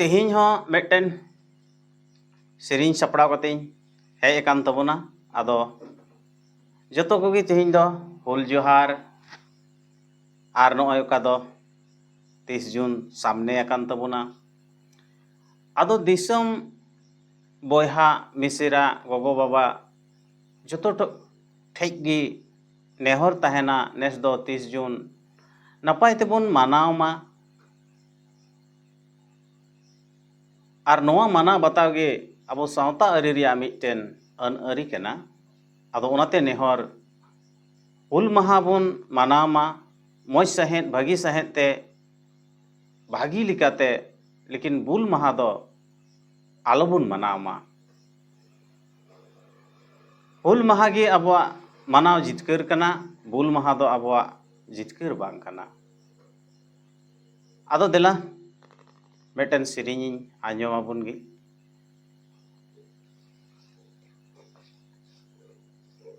ᱛᱮᱦᱮᱧ ᱦᱚᱸ ᱢᱤᱫᱴᱮᱱ ᱥᱮᱨᱮᱧ ᱥᱟᱯᱲᱟᱣ ᱠᱟᱛᱮᱧ ᱦᱮᱡ ᱟᱠᱟᱱ ᱛᱟᱵᱚᱱᱟ ᱟᱫᱚ ᱡᱚᱛᱚ ᱠᱚᱜᱮ ᱛᱮᱦᱮᱧ ᱫᱚ ᱦᱩᱞ ᱡᱚᱦᱟᱨ ᱟᱨ ᱱᱚᱜᱼᱚᱭ ᱚᱠᱟ ᱫᱚ ᱛᱤᱥ ᱡᱩᱱ ᱥᱟᱢᱱᱮ ᱟᱠᱟᱱ ᱛᱟᱵᱚᱱᱟ ᱟᱫᱚ ᱫᱤᱥᱚᱢ ᱵᱚᱭᱦᱟ ᱢᱤᱥᱮᱨᱟ ᱜᱚᱜᱚ ᱵᱟᱵᱟ ᱡᱚᱛᱚ ᱴᱷᱮᱡ ᱜᱮ ᱱᱮᱦᱚᱨ ᱛᱟᱦᱮᱱᱟ ᱱᱮᱥ ᱫᱚ ᱛᱤᱥ ᱡᱩᱱ ᱱᱟᱯᱟᱭ ᱛᱮᱵᱚᱱ ᱢᱟᱱᱟᱣ ᱢᱟ ᱟᱨ ᱱᱚᱣᱟ ᱢᱟᱱᱟᱣ ᱵᱟᱛᱟᱣ ᱜᱮ ᱟᱵᱚ ᱥᱟᱶᱛᱟ ᱟᱹᱨᱤ ᱨᱮᱭᱟᱜ ᱢᱤᱫᱴᱮᱱ ᱟᱹᱱ ᱟᱹᱨᱤ ᱠᱟᱱᱟ ᱟᱫᱚ ᱚᱱᱟᱛᱮ ᱱᱮᱦᱚᱨ ᱦᱩᱞ ᱢᱟᱦᱟ ᱵᱚᱱ ᱢᱟᱱᱟᱣ ᱢᱟ ᱢᱚᱡᱽ ᱥᱟᱺᱦᱤᱡ ᱵᱷᱟᱹᱜᱤ ᱥᱟᱺᱦᱤᱡ ᱛᱮ ᱵᱷᱟᱹᱜᱤ ᱞᱮᱠᱟᱛᱮ ᱞᱮᱠᱤᱱ ᱵᱩᱞ ᱢᱟᱦᱟ ᱫᱚ ᱟᱞᱚ ᱵᱚᱱ ᱢᱟᱱᱟᱣ ᱢᱟ ᱦᱩᱞ ᱢᱟᱦᱟ ᱜᱮ ᱟᱵᱚᱣᱟᱜ ᱢᱟᱱᱟᱣ ᱡᱤᱛᱠᱟᱹᱨ ᱠᱟᱱᱟ ᱵᱩᱞ ᱢᱟᱦᱟ ᱫᱚ ᱟᱵᱚᱣᱟᱜ ᱡᱤᱛᱠᱟᱹᱨ ᱵᱟᱝ ᱠᱟᱱᱟ ᱟᱫᱚ ᱫᱮᱞᱟ ᱢᱤᱫᱴᱮᱱ ᱥᱮᱨᱮᱧᱤᱧ ᱟᱸᱡᱚᱢ ᱟᱵᱚᱱ ᱜᱮ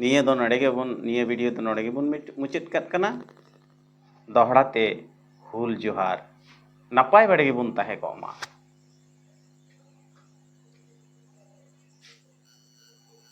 ᱱᱤᱭᱟᱹ ᱫᱚ ᱱᱚᱰᱮ ᱜᱮᱵᱚᱱ ᱱᱤᱭᱟᱹ ᱵᱷᱤᱰᱤᱭᱳ ᱫᱚ ᱱᱚᱰᱮ ᱜᱮᱵᱚᱱ ᱢᱩᱪᱟᱹᱫ ᱠᱟᱜ ᱠᱟᱱᱟ ᱫᱚᱦᱲᱟ ᱛᱮ ᱦᱩᱞ ᱡᱚᱦᱟᱨ ᱱᱟᱯᱟᱭ ᱵᱟᱲᱮ ᱜᱮᱵᱚᱱ ᱛᱟᱦᱮᱸ ᱠᱚᱜ ᱢᱟ